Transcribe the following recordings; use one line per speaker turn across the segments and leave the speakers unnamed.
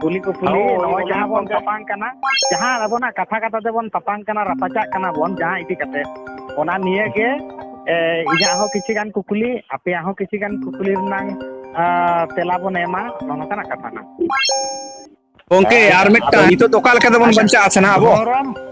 ᱠᱩᱞᱤ ᱠᱚ ᱠᱩᱞᱤ ᱦᱳᱭ, ᱱᱚᱜᱼᱚᱭ ᱡᱟᱦᱟᱸ ᱵᱚᱱ ᱚᱱᱟ- ᱛᱟᱯᱟᱝ ᱠᱟᱱᱟ ᱡᱟᱦᱟᱸ ᱟᱵᱚᱱᱟᱜ ᱠᱟᱛᱷᱟ ᱠᱟᱛᱷᱟ ᱛᱮᱵᱚᱱ ᱛᱟᱯᱟᱝ ᱠᱟᱱᱟ ᱨᱟᱯᱟᱪᱟᱜ ᱠᱟᱱᱟ ᱵᱚᱱ ᱡᱟᱦᱟᱸ ᱤᱫᱤ ᱠᱟᱛᱮ ᱚᱱᱟ ᱱᱤᱭᱮ ᱜᱮ ᱮ, ᱤᱧᱟᱹᱜ ᱦᱚᱸ ᱠᱤᱪᱷᱩ ᱜᱟᱱ ᱠᱩᱠᱞᱤ ᱟᱯᱮᱭᱟᱜ ᱦᱚᱸ ᱠᱤᱪᱷᱩ ᱜᱟᱱ ᱠᱩᱠᱞᱤ ᱨᱮᱱᱟᱝ ᱟ, ᱛᱮᱞᱟ ᱵᱚᱱ ᱮᱢᱟ ᱱᱚᱜᱼᱚ ᱱᱚᱝᱠᱟᱱᱟᱜ ᱠᱟᱛᱷᱟ ᱠᱟᱱᱟ ᱜᱚᱝᱠᱮ ᱟᱨ ᱢᱤᱫᱴᱟᱝ ᱱᱤᱛᱚᱜ ᱫᱚ ᱚᱠᱟ ᱞᱮᱠᱟ ᱛᱮᱵᱚᱱ ᱵᱟᱧᱪᱟᱜᱼᱟ ᱥᱮ ᱱᱟᱦᱟᱜ ᱟᱵᱚ ᱫᱷᱚᱨᱚᱢ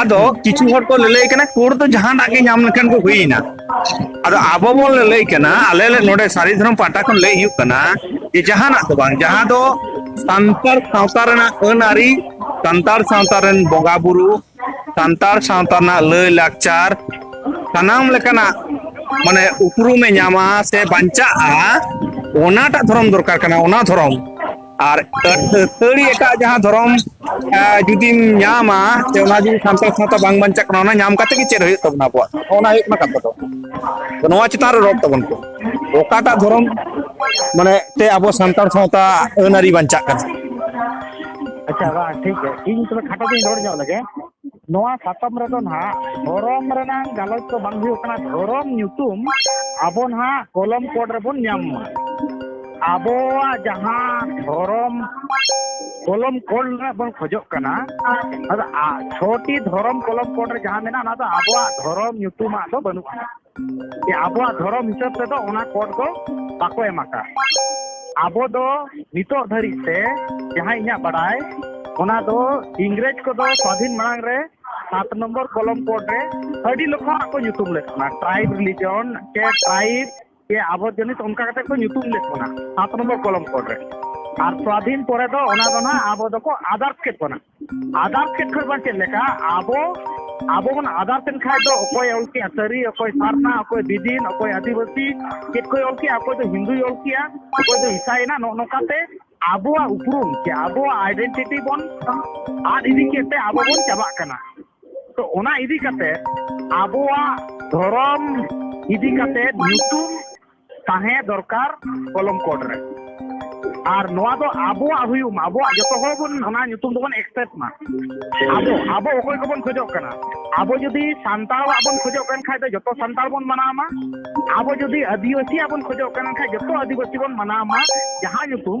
ᱟᱫᱚ ᱠᱤᱪᱷᱩ ᱦᱚᱲ ᱠᱚ ᱞᱟᱹᱞᱟᱹᱭ ᱠᱟᱱᱟ ᱠᱳᱲ ᱫᱚ ᱡᱟᱦᱟᱱᱟᱜ ᱜᱮ ᱧᱟᱢ ᱞᱮᱠᱷᱟᱱ ᱠᱚ ᱦᱩᱭᱮᱱᱟ ᱟᱫᱚ ᱟᱵᱚ ᱵᱚᱱ ᱞᱟᱹᱞᱟᱹᱭ ᱠᱟᱱᱟ ᱟᱞᱮ ᱞᱮ ᱱᱚᱰᱮ ᱥᱟᱹᱨᱤ ᱫᱷᱚᱨᱚᱢ ᱯᱟᱦᱴᱟ ᱠᱷᱚᱱ ᱞᱟᱹᱭ ᱦᱩᱭᱩᱜ ᱠᱟᱱᱟ ᱡᱮ ᱡᱟᱦᱟᱱᱟᱜ ᱫᱚ ᱵᱟᱝ ᱡᱟᱦᱟᱸ ᱫᱚ ᱥᱟᱱᱛᱟᱲ ᱥᱟᱶᱛᱟ ᱨᱮᱱᱟᱜ ᱟᱹᱱ ᱟᱹᱨᱤ ᱥᱟᱱᱛᱟᱲ ᱥᱟᱶᱛᱟ ᱨᱮᱱ ᱵᱚᱸᱜᱟ ᱵᱩᱨᱩ ᱥᱟᱱᱛᱟᱲ ᱥᱟᱶᱛᱟ ᱨᱮᱱᱟᱜ ᱞᱟᱹᱭ ᱞᱟᱠᱪᱟᱨ ᱥᱟᱱᱟᱢ ᱞᱮᱠᱟᱱᱟᱜ ᱢᱟᱱᱮ ᱩᱯᱨᱩᱢᱮ ᱧᱟᱢᱟ ᱥᱮ ᱵᱟᱧᱪᱟᱜᱼᱟ ᱚᱱᱟᱴᱟᱜ ᱫᱷᱚᱨᱚᱢ ᱫᱚᱨᱠᱟᱨ ᱠᱟᱱᱟ ᱚᱱᱟ ᱫᱷᱚᱨᱚᱢ ᱟᱨ ᱟᱹᱛᱷᱟᱹᱲᱤ ᱮᱴᱟᱜ ᱡᱟᱦᱟᱸ ᱫᱷᱚᱨᱚᱢ ᱡᱩᱫᱤᱢ ᱧᱟᱢᱟ ᱥᱮ ᱚᱱᱟ ᱡᱩᱫᱤ ᱥᱟᱱᱛᱟᱲ ᱥᱟᱶᱛᱟ ᱵᱟᱝ ᱵᱟᱧᱪᱟᱜ ᱠᱟᱱᱟ ᱚᱱᱟ ᱧᱟᱢ ᱠᱟᱛᱮ ᱜᱮ ᱪᱮᱫ ᱦᱩᱭᱩᱜ ᱛᱟᱵᱚᱱᱟ ᱟᱵᱚᱣᱟᱜ ᱚᱱᱟ ᱦᱩᱭᱩᱜ ᱠᱟᱱᱟ ᱠᱟᱛᱷᱟ ᱫᱚ ᱱᱚᱣᱟ ᱪᱮᱛᱟᱱ ᱨᱮ ᱨᱚᱲ ᱛᱟᱵᱚᱱ ᱯᱮ ᱚᱠᱟᱴᱟᱜ ᱫᱷᱚᱨᱚᱢ ᱢᱟᱱᱮ ᱛᱮ ᱟᱵᱚ ᱥᱟᱱᱛᱟᱲ ᱥᱟᱶᱛᱟ ᱟᱹᱱ ᱟᱹᱨᱤ ᱵᱟᱧᱪᱟᱜ ᱠᱟᱱᱟ ᱟᱪᱪᱷᱟ ᱵᱟᱝ ᱴᱷᱤᱠ ᱜᱮᱭᱟ ᱤᱧ ᱛᱚᱵᱮ ᱠᱷᱟᱴᱚ ᱛᱮᱧ ᱨᱚᱲ ᱧᱚᱜ ᱞᱮᱜᱮ ᱱᱚᱣᱟ ᱥᱟᱛᱟᱢ ᱨᱮᱫᱚ ᱱᱟᱦᱟᱜ ᱫᱷᱚᱨᱚᱢ ᱨᱮᱱᱟᱝ ᱜᱟᱞᱚᱪ ᱫᱚ ᱵᱟᱝ ᱦᱩᱭᱩᱜ ᱠᱟᱱᱟ ᱫᱷᱚᱨᱚᱢ ᱧᱩᱛᱩᱢ ᱟᱵᱚ ᱱᱟᱦᱟᱜ ᱠᱚᱞᱚᱢ ᱠᱳᱰ ᱨᱮᱵᱚᱱ ᱧᱟᱢ ᱢᱟ ᱟᱵᱚᱣᱟᱜ ᱡᱟᱦᱟᱸ ᱫᱷᱚᱨᱚᱢ ᱠᱚᱞᱚᱢ ᱠᱳᱰ ᱨᱮᱱᱟᱜ ᱵᱚᱱ ᱠᱷᱚᱡᱚᱜ ᱠᱟᱱᱟ ᱟᱫᱚ ᱪᱷᱚᱴᱤ ᱫᱷᱚᱨᱚᱢ ᱠᱚᱞᱚᱢ ᱠᱳᱰ ᱨᱮ ᱡᱟᱦᱟᱸ ᱢᱮᱱᱟᱜᱼᱟ ᱚᱱᱟ ᱫᱚ ᱟᱵᱚᱣᱟᱜ ᱫᱷᱚᱨᱚᱢ ᱧᱩᱛᱩᱢᱟᱜ ᱫᱚ ᱵᱟᱹᱱᱩᱜᱼᱟ ᱟᱵᱚᱣᱟᱜ ᱫᱷᱚᱨᱚᱢ ᱦᱤᱥᱟᱹᱵ ᱛᱮᱫᱚ ᱚᱱᱟ ᱠᱳᱰ ᱫᱚ ᱵᱟᱠᱚ ᱮᱢ ᱟᱠᱟᱫ ᱟᱵᱚ ᱫᱚ ᱱᱤᱛᱚᱜ ᱫᱷᱟᱹᱨᱤᱡ ᱛᱮ ᱡᱟᱦᱟᱸ ᱤᱧᱟᱹᱜ ᱵᱟᱰᱟᱭ ᱚᱱᱟ ᱫᱚ ᱤᱝᱨᱮᱡᱽ ᱠᱚᱫᱚ ᱥᱟᱹᱫᱷᱤᱱ ᱢᱟᱲᱟᱝ ᱨᱮ ᱥᱟᱛ ᱱᱚᱢᱵᱚᱨ ᱠᱚᱞᱚᱢ ᱠᱳᱰ ᱨᱮ ᱟᱹᱰᱤ ᱞᱮᱠᱟᱱᱟᱜ ᱠᱚ ᱧᱩᱛᱩᱢ ᱞᱮᱫ ᱵᱚᱱᱟ ᱴᱨᱟᱭᱤᱵᱽ ᱨᱤᱞᱤᱡᱚᱱ ᱥᱮ ᱴᱨᱟᱭᱤᱵᱽ ᱥᱮ ᱟᱵᱚ ᱡᱟᱹᱱᱤᱡ ᱚᱱᱠᱟ ᱠᱟᱛᱮ ᱠᱚ ᱧᱩᱛᱩᱢ ᱞᱮᱫ ᱵᱚᱱᱟ ᱥᱟᱛ ᱱᱚᱢᱵᱚᱨ ᱠᱚᱞᱚᱢ ᱠᱳᱰ ᱨᱮ ᱟᱨ ᱥᱟᱹᱫᱷᱤᱱ ᱯᱚᱨᱮ ᱫᱚ ᱚᱱᱟ ᱫᱚ ᱱᱟᱦᱟᱜ ᱟᱵᱚ ᱫᱚᱠᱚ ᱟᱫᱟᱨᱥ ᱠᱮᱫ ᱵᱚᱱᱟ ᱟᱫᱟᱨ ᱥᱮᱫ ᱠᱷᱚᱱ ᱵᱟᱝ ᱪᱮᱫ ᱞᱮᱠᱟ ᱟᱵᱚ ᱟᱵᱚ ᱵᱚᱱ ᱟᱫᱟᱨ ᱥᱮᱫ ᱠᱷᱟᱡ ᱫᱚ ᱚᱠᱚᱭ ᱚᱞ ᱠᱮᱜᱼᱟ ᱥᱟᱹᱨᱤ ᱚᱠᱚᱭ ᱥᱟᱨᱱᱟ ᱚᱠᱚᱭ ᱫᱤᱫᱤᱱ ᱚᱠᱚᱭ ᱟᱹᱫᱤᱵᱟᱹᱥᱤ ᱪᱮᱫ ᱠᱚᱭ ᱚᱞ ᱠᱮᱜᱼᱟ ᱚᱠᱚᱭ ᱫᱚ ᱦᱤᱱᱫᱩᱭ ᱚᱞ ᱠᱮᱜᱼᱟ ᱚᱠᱚᱭ ᱫᱚ ᱤᱥᱟᱭᱮᱱᱟ ᱱᱚᱜᱼᱚ ᱱᱚᱝᱠᱟᱛᱮ ᱟᱵᱚᱣᱟᱜ ᱩᱯᱨᱩᱢ ᱥᱮ ᱟᱵᱚᱣᱟᱜ ᱟᱭᱰᱮᱱᱴᱤᱴᱤ ᱵᱚᱱ ᱟᱫ ᱤᱫᱤ ᱠᱮᱫ ᱛᱮ ᱟᱵᱚ ᱵᱚᱱ ᱪᱟᱵᱟᱜ ᱠᱟᱱᱟ ᱛᱚ ᱚᱱᱟ ᱤᱫᱤ ᱠᱟᱛᱮ ᱟᱵᱚᱣᱟᱜ ᱫᱷᱚᱨᱚᱢ ᱤᱫᱤ ᱠᱟᱛᱮ ᱧᱩᱛᱩᱢ ᱛᱟᱦᱮᱸ ᱫᱚᱨᱠᱟᱨ ᱠᱚᱞᱚᱢ ᱠᱳᱰ ᱨᱮ ᱟᱨ ᱱᱚᱣᱟ ᱫᱚ ᱟᱵᱚᱣᱟᱜ ᱦᱩᱭᱩᱜ ᱢᱟ ᱟᱵᱚᱣᱟᱜ ᱡᱚᱛᱚ ᱦᱚᱲ ᱵᱚᱱ ᱚᱱᱟ ᱧᱩᱛᱩᱢ ᱫᱚᱵᱚᱱ ᱮᱠᱥᱮᱯᱴ ᱢᱟ ᱟᱵᱚ ᱟᱵᱚ ᱚᱠᱚᱭ ᱠᱚᱵᱚᱱ ᱠᱷᱚᱡᱚᱜ ᱠᱟᱱᱟ ᱟᱵᱚ ᱡᱩᱫᱤ ᱥᱟᱱᱛᱟᱲᱟᱜ ᱵᱚᱱ ᱠᱷᱚᱡᱚᱜ ᱠᱟᱱ ᱠᱷᱟᱡ ᱫᱚ ᱡᱚᱛᱚ ᱥᱟᱱᱛᱟᱲ ᱵᱚᱱ ᱢᱟᱱᱟᱣ ᱢᱟ ᱟᱵᱚ ᱡᱩᱫᱤ ᱟᱹᱫᱤᱵᱟᱹᱥᱤᱭᱟᱜ ᱵᱚᱱ ᱠᱷᱚᱡᱚᱜ ᱠᱟᱱ ᱠᱷᱟᱡ ᱡᱚᱛᱚ ᱟᱹᱫᱤᱵᱟᱹᱥᱤ ᱵᱚᱱ ᱢᱟᱱᱟᱣ ᱢᱟ ᱡᱟᱦᱟᱸ ᱧᱩᱛᱩᱢ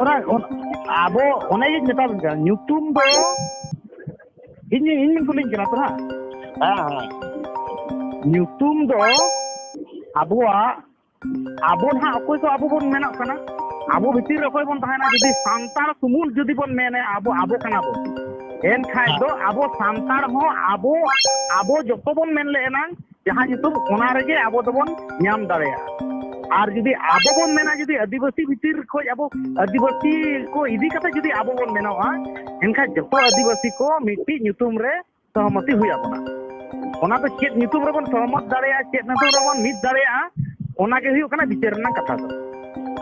ᱚᱱᱟ ᱟᱵᱚ ᱚᱱᱟ ᱜᱤᱧ ᱢᱮᱛᱟᱵᱤᱱ ᱠᱟᱱᱟ ᱧᱩᱛᱩᱢ ᱫᱚ ᱤᱧ ᱤᱧ ᱠᱩᱞᱤᱧ ᱠᱟᱱᱟ ᱛᱚ ᱦᱟᱸᱜ ᱦᱮᱸ ᱧᱩᱛᱩᱢ ᱫᱚ ᱟᱵᱚᱣᱟᱜ ᱟᱵᱚ ᱱᱟᱦᱟᱜ ᱚᱠᱚᱭ ᱠᱚ ᱟᱵᱚ ᱵᱚᱱ ᱢᱮᱱᱚᱜ ᱠᱟᱱᱟ ᱟᱵᱚ ᱵᱷᱤᱛᱤᱨ ᱨᱮ ᱚᱠᱚᱭ ᱵᱚᱱ ᱛᱟᱦᱮᱱᱟ ᱡᱩᱫᱤ ᱥᱟᱱᱛᱟᱲ ᱥᱩᱢᱩᱝ ᱡᱩᱫᱤ ᱵᱚᱱ ᱢᱮᱱᱟ ᱟᱵᱚ ᱟᱵᱚ ᱠᱟᱱᱟ ᱵᱚᱱ ᱮᱱᱠᱷᱟᱡ ᱫᱚ ᱟᱵᱚ ᱥᱟᱱᱛᱟᱲ ᱦᱚᱸ ᱟᱵᱚ ᱟᱵᱚ ᱡᱚᱛᱚ ᱵᱚᱱ ᱢᱮᱱ ᱞᱮ ᱮᱱᱟᱝ ᱡᱟᱦᱟᱸ ᱧᱩᱛᱩᱢ ᱚᱱᱟ ᱨᱮᱜᱮ ᱟᱵᱚ ᱫᱚᱵᱚᱱ ᱧᱟᱢ ᱫᱟᱲᱮᱭᱟᱜᱼᱟ ᱟᱨ ᱡᱩᱫᱤ ᱟᱵᱚ ᱵᱚᱱ ᱢᱮᱱᱟ ᱡᱩᱫᱤ ᱟᱹᱫᱤᱵᱟᱹᱥᱤ ᱵᱷᱤᱛᱤᱨ ᱠᱷᱚᱱ ᱟᱵᱚ ᱟᱹᱫᱤᱵᱟᱹᱥᱤ ᱠᱚ ᱤᱫᱤ ᱠᱟᱛᱮ ᱡᱩᱫᱤ ᱟᱵᱚ ᱵᱚᱱ ᱢᱮᱱᱚᱜᱼᱟ ᱮᱱᱠᱷᱟᱱ ᱡᱚᱛᱚ ᱟᱹᱫᱤᱵᱟᱹᱥᱤ ᱠᱚ ᱢᱤᱫᱴᱤᱡ ᱧᱩᱛᱩᱢ ᱨᱮ ᱥᱚᱦᱚᱢᱚᱛᱤ ᱦᱩᱭ ᱟᱵᱚᱱᱟ ᱚᱱᱟ ᱫᱚ ᱪᱮᱫ ᱧᱩᱛᱩᱢ ᱨᱮᱵᱚᱱ ᱥᱚᱦᱚᱢᱚᱛ ᱫᱟᱲᱮᱭᱟᱜᱼᱟ ᱪᱮᱫ ᱧᱩᱛᱩᱢ ᱨᱮᱵᱚᱱ ᱢᱤᱫ ᱫᱟᱲᱮᱭᱟᱜᱼᱟ ᱚᱱᱟᱜᱮ ᱦᱩᱭᱩᱜ ᱠᱟᱱᱟ ᱵᱤᱪᱟᱹᱨ ᱨᱮᱱᱟᱜ ᱠᱟᱛᱷᱟ ᱫᱚ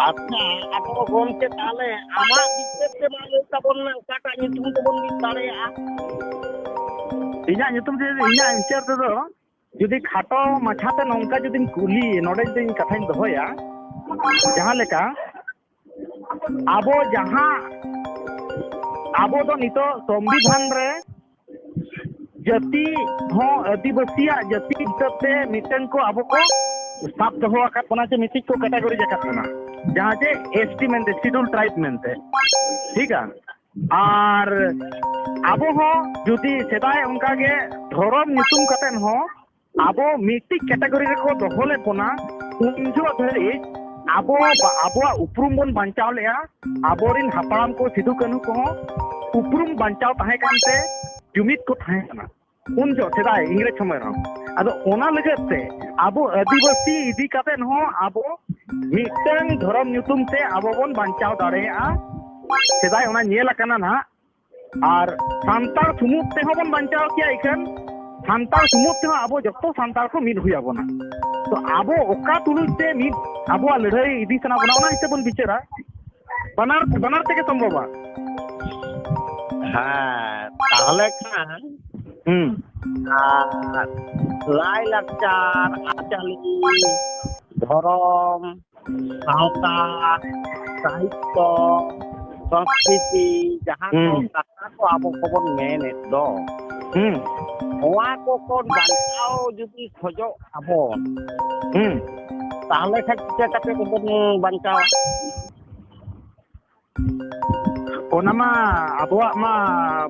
ᱟᱪᱪᱷᱟ ᱟᱫᱚ ᱜᱚᱢᱠᱮ ᱛᱟᱦᱚᱞᱮ ᱟᱢᱟᱜ ᱵᱤᱥᱮᱥ ᱛᱮ ᱵᱟᱝ ᱞᱟᱹᱭ ᱛᱟᱵᱚᱱ ᱢᱮ ᱚᱠᱟᱴᱟᱜ ᱧᱩᱛᱩᱢ ᱛᱮᱵᱚᱱ ᱢᱤᱫ ᱫᱟᱲᱮᱭᱟᱜᱼᱟ ᱤᱧᱟᱹᱜ ᱧᱩᱛᱩᱢ ᱛᱮ ᱤᱧᱟᱹᱜ ᱦᱤᱥᱟᱹᱵ ᱛᱮᱫᱚ ᱡᱩᱫᱤ ᱠᱷᱟᱴᱚ ᱢᱟᱪᱷᱟᱛᱮ ᱱᱚᱝᱠᱟ ᱡᱩᱫᱤᱧ ᱠᱩᱞᱤ ᱱᱚᱰᱮ ᱡᱩᱫᱤ ᱤᱧ ᱠᱟᱛᱷᱟᱧ ᱫᱚᱦᱚᱭᱟ ᱡᱟᱦᱟᱸ ᱞᱮᱠᱟ ᱟᱵᱚ ᱡᱟᱦᱟᱸ ᱟᱵᱚ ᱫᱚ ᱱᱤᱛᱚᱜ ᱥᱚᱝᱵᱤᱫᱷᱟᱱ ᱨᱮ ᱡᱟᱹᱛᱤ ᱦᱚᱸ ᱟᱹᱫᱤᱵᱟᱹᱥᱤᱭᱟᱜ ᱡᱟᱹᱛᱤ ᱦᱤᱥᱟᱹᱵ ᱛᱮ ᱢᱤᱫᱴᱟᱝ ᱠᱚ ᱟᱵᱚ ᱠᱚ ᱥᱟᱵ ᱫᱚᱦᱚ ᱟᱠᱟᱫ ᱵᱚᱱᱟ ᱡᱮ ᱢᱤᱫᱴᱤᱡ ᱠᱚ ᱠᱮᱴᱟᱜᱚᱨᱤ ᱟᱠᱟᱫ ᱵᱚᱱᱟ ᱡᱟᱦᱟᱸ ᱡᱮ ᱮᱥ ᱴᱤ ᱢᱮᱱᱛᱮ ᱥᱤᱰᱩᱞ ᱴᱨᱟᱭᱤᱵ ᱢᱮᱱᱛᱮ ᱴᱷᱤᱠ ᱟ ᱟᱨ ᱟᱵᱚ ᱦᱚᱸ ᱡᱩᱫᱤ ᱥᱮᱫᱟᱭ ᱚᱱᱠᱟᱜᱮ ᱫᱷᱚᱨᱚᱢ ᱧᱩᱛᱩᱢ ᱠᱟᱛᱮᱫ ᱦᱚᱸ ᱟᱵᱚ ᱢᱤᱫᱴᱤᱡ ᱠᱮᱴᱟᱜᱚᱨᱤ ᱨᱮᱠᱚ ᱫᱚᱦᱚ ᱞᱮᱫ ᱵᱚᱱᱟ ᱩᱱ ᱡᱚᱦᱚᱜ ᱫᱷᱟᱹᱨᱤᱡ ᱟᱵᱚ ᱟᱵᱚᱣᱟᱜ ᱩᱯᱨᱩᱢ ᱵᱚᱱ ᱵᱟᱧᱪᱟᱣ ᱞᱮᱜᱼᱟ ᱟᱵᱚᱨᱮᱱ ᱦᱟᱯᱲᱟᱢ ᱠᱚ ᱥᱤᱫᱩ ᱠᱟᱹᱱᱦᱩ ᱠᱚᱦᱚᱸ ᱩᱯᱨᱩᱢ ᱵᱟᱧᱪᱟᱣ ᱛᱟᱦᱮᱸ ᱠᱟᱱᱛᱮ ᱡᱩᱢᱤᱫ ᱠᱚ ᱛᱟᱦᱮᱸ ᱠᱟᱱᱟ ᱩᱱ ᱡᱚᱦᱚᱜ ᱥᱮᱫᱟᱭ ᱤᱝᱨᱮᱡᱽ ᱥᱚᱢᱚᱭ ᱨᱮᱦᱚᱸ ᱟᱫᱚ ᱚᱱᱟ ᱞᱟᱹᱜᱤᱫ ᱛᱮ ᱟᱵᱚ ᱟᱹᱫᱤᱵᱟᱹᱥᱤ ᱤᱫᱤ ᱠᱟᱛᱮ ᱦᱚᱸ ᱟᱵᱚ ᱢᱤᱫᱴᱟᱝ ᱫᱷᱚᱨᱚᱢ ᱧᱩᱛᱩᱢ ᱛᱮ ᱟᱵᱚ ᱵᱚᱱ ᱵᱟᱧᱪᱟᱣ ᱫᱟᱲᱮᱭᱟᱜᱼᱟ ᱥᱮᱫᱟᱭ ᱚᱱᱟ ᱧᱮᱞ ᱟᱠᱟᱱᱟ ᱱᱟᱦᱟᱜ ᱟᱨ ᱥᱟᱱᱛᱟᱲ ᱥᱩᱢᱩᱫ ᱛᱮᱦᱚᱸ ᱵᱚᱱ ᱵᱟᱧᱪᱟᱣ ᱠᱮᱭᱟ ᱤᱠᱷᱟᱹᱱ ᱥᱟᱱᱛᱟᱲ ᱥᱩᱢᱩᱫ ᱛᱮᱦᱚᱸ ᱟᱵᱚ ᱡᱚᱛᱚ ᱥᱟᱱᱛᱟᱲ ᱠᱚ ᱢᱤᱫ ᱦᱩᱭ ᱟᱵᱚᱱᱟ ᱛᱚ ᱟᱵᱚ ᱚᱠᱟ ᱛᱩᱞᱩᱡ ᱛᱮ ᱢᱤᱫ ᱟᱵᱚᱣᱟᱜ ᱞᱟᱹᱲᱦᱟᱹᱭ ᱤᱫᱤ ᱥᱟᱱᱟ ᱵᱚᱱᱟ ᱚᱱᱟ ᱦᱤᱥᱟᱹᱵ ᱵᱚᱱ ᱵᱤᱪᱟᱹᱨᱟ ᱵᱟᱱᱟᱨ ᱵᱟᱱᱟᱨ ᱛᱮᱜᱮ ᱥᱚᱢᱵᱷᱚᱵᱟ ᱦᱮᱸ ᱛᱟᱦᱚᱞᱮ ᱠᱷᱟᱱ ᱦᱩᱸ ᱞᱟᱭ ᱞᱟᱠᱪᱟᱨ ᱟᱹᱨᱤᱪᱟᱹᱞᱤ ᱫᱷᱚᱨᱚᱢ ᱥᱟᱶᱛᱟ ᱥᱟᱦᱤᱛᱛᱚ ᱥᱚᱝᱥᱠᱨᱤᱛᱤ ᱡᱟᱦᱟᱸ ᱠᱚ ᱠᱟᱛᱷᱟ ᱠᱚ ᱟᱵᱚ ᱠᱚᱵᱚᱱ ᱢᱮᱱᱮᱫ ᱫᱚ ᱱᱚᱣᱟ ᱠᱚ ᱠᱷᱚᱱ ᱵᱟᱧᱪᱟᱣ ᱡᱩᱫᱤ ᱠᱷᱚᱡᱚᱜ ᱟᱵᱚᱱ ᱛᱟᱦᱚᱞᱮ ᱠᱷᱟᱱ ᱪᱤᱠᱟᱹ ᱠᱟᱛᱮ ᱵᱚᱱ ᱵᱟᱧᱪᱟᱣᱟ ᱚᱱᱟ ᱢᱟ ᱟᱵᱚᱣᱟᱜ ᱢᱟ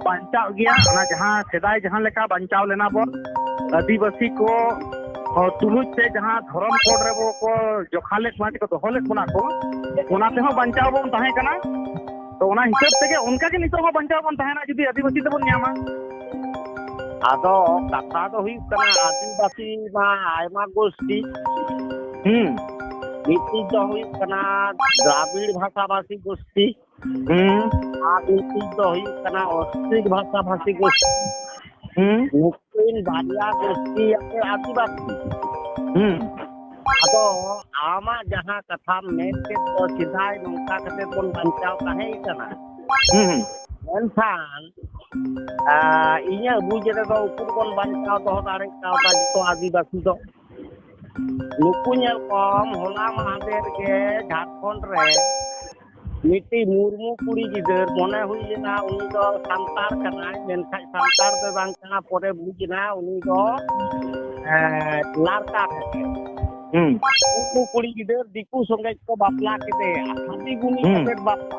ᱵᱟᱧᱪᱟᱜ ᱜᱮᱭᱟ ᱚᱱᱟ ᱡᱟᱦᱟᱸ ᱥᱮᱫᱟᱭ ᱡᱟᱦᱟᱸ ᱞᱮᱠᱟ ᱵᱟᱧᱪᱟᱣ ᱞᱮᱱᱟ ᱵᱚᱱ ᱟᱹᱫᱤᱵᱟᱹᱥᱤ ᱠᱚ ᱛᱩᱞᱩᱡ ᱛᱮ ᱡᱟᱦᱟᱸ ᱫᱷᱚᱨᱚᱢ ᱠᱳᱰ ᱨᱮ ᱠᱚ ᱡᱚᱠᱷᱟ ᱞᱮᱫ ᱵᱚᱱᱟ ᱠᱚ ᱫᱚᱦᱚ ᱞᱮᱫ ᱵᱚᱱᱟ ᱠᱚ ᱚᱱᱟ ᱛᱮᱦᱚᱸ ᱵᱟᱧᱪᱟᱣ ᱵᱚᱱ ᱛᱟᱦᱮᱸ ᱠᱟᱱᱟ ᱛᱚ ᱚᱱᱟ ᱦᱤᱥᱟᱹᱵ ᱛᱮᱜᱮ ᱚᱱᱠᱟᱜᱮ ᱱᱤᱛᱚᱜ ᱦᱚᱸ ᱵᱟᱧᱪᱟᱣ ᱵᱚᱱ ᱛᱟᱦᱮᱱᱟ ᱡᱩᱫᱤ ᱟᱹᱫᱤᱵᱟᱹᱥᱤ ᱛᱮᱵᱚᱱ ᱧᱟᱢᱟ ᱟᱫᱚ ᱠᱟᱛᱷᱟ ᱫᱚ ᱦᱩᱭᱩᱜ ᱠᱟᱱᱟ ᱟᱹᱫᱤᱵᱟᱹᱥᱤ ᱢᱟ ᱟᱭᱢᱟ ᱜᱳᱥᱴᱤ ᱦᱩᱸ ᱢᱤᱫᱴᱤᱡ ᱫᱚ ᱦᱩᱭᱩᱜ ᱠᱟᱱᱟ ᱫᱨᱟᱵᱤᱲ ᱵᱷᱟᱥᱟ ᱵᱷᱟᱥᱤ ᱜᱳᱥᱴᱤ ᱦᱩᱸ ᱟᱨ ᱢᱤᱫᱴᱤᱡ ᱫᱚ ᱦᱩᱭᱩᱜ ᱠᱟᱱᱟ ᱚᱥᱴᱨᱤᱠ ᱵᱷᱟᱥᱟ ᱵᱷᱟᱥᱤ ᱜᱳᱥᱴᱤ ᱦᱩᱸ ᱱᱩᱠᱤᱱ ᱵᱟᱨᱭᱟ ᱜᱳᱥᱴᱤ ᱟᱛᱮ ᱟᱹᱫᱤᱵᱟᱹᱥᱤ ᱦᱩᱸ ᱟᱫᱚ ᱟᱢᱟᱜ ᱡᱟᱦᱟᱸ ᱠᱟᱛᱷᱟᱢ ᱢᱮᱱ ᱠᱮᱫ ᱫᱚ ᱥᱮᱫᱟᱭ ᱱᱚᱝᱠᱟ ᱠᱟᱛᱮ ᱵᱚᱱ ᱵᱟᱧᱪᱟᱣ ᱛᱟᱦᱮᱸ ᱠᱟᱱᱟ ᱦᱩᱸ ᱢᱮᱱᱠᱷᱟᱱ ᱤᱧᱟᱹᱜ ᱵᱩᱡᱽ ᱨᱮᱫᱚ ᱩᱠᱩᱨ ᱵᱚᱱ ᱵᱟᱧᱪᱟᱣ ᱫᱚᱦᱚ ᱫᱟᱲᱮ ᱠᱟᱣᱫᱟ ᱡᱚᱛᱚ ᱟᱹᱫᱤᱵᱟᱹᱥᱤ ᱫᱚ ᱱᱩᱠᱩ ᱧᱮᱞ ᱠᱚᱢ ᱦᱚᱞᱟ ᱢᱟᱦᱫᱮᱨ ᱜᱮ ᱡᱷᱟᱲᱠᱷᱚᱸᱰ ᱨᱮ ᱢᱤᱫᱴᱤᱡ ᱢᱩᱨᱢᱩ ᱠᱩᱲᱤ ᱜᱤᱫᱟᱹᱨ ᱢᱚᱱᱮ ᱦᱩᱭ ᱞᱮᱱᱟ ᱩᱱᱤ ᱫᱚ ᱥᱟᱱᱛᱟᱲ ᱠᱟᱱᱟᱭ ᱢᱮᱱᱠᱷᱟᱱ ᱥᱟᱱᱛᱟᱲ ᱫᱚ ᱵᱟᱝ ᱠᱟᱱᱟ ᱯᱚᱨᱮ ᱵᱩᱡᱽ ᱮᱱᱟ ᱩᱱᱤ ᱫᱚ ᱞᱟᱲᱠᱟ ᱠᱟᱱᱟᱭ ᱩᱱᱠᱩ ᱠᱩᱲᱤ ᱜᱤᱫᱟᱹᱨ ᱫᱤᱠᱩ ᱥᱚᱸᱜᱮ ᱠᱚ ᱵᱟᱯᱞᱟ ᱠᱮᱫᱮᱭᱟ ᱦᱟᱺᱰᱤ ᱜᱩᱱᱤ ᱠᱟᱛᱮ ᱵᱟᱯᱞᱟ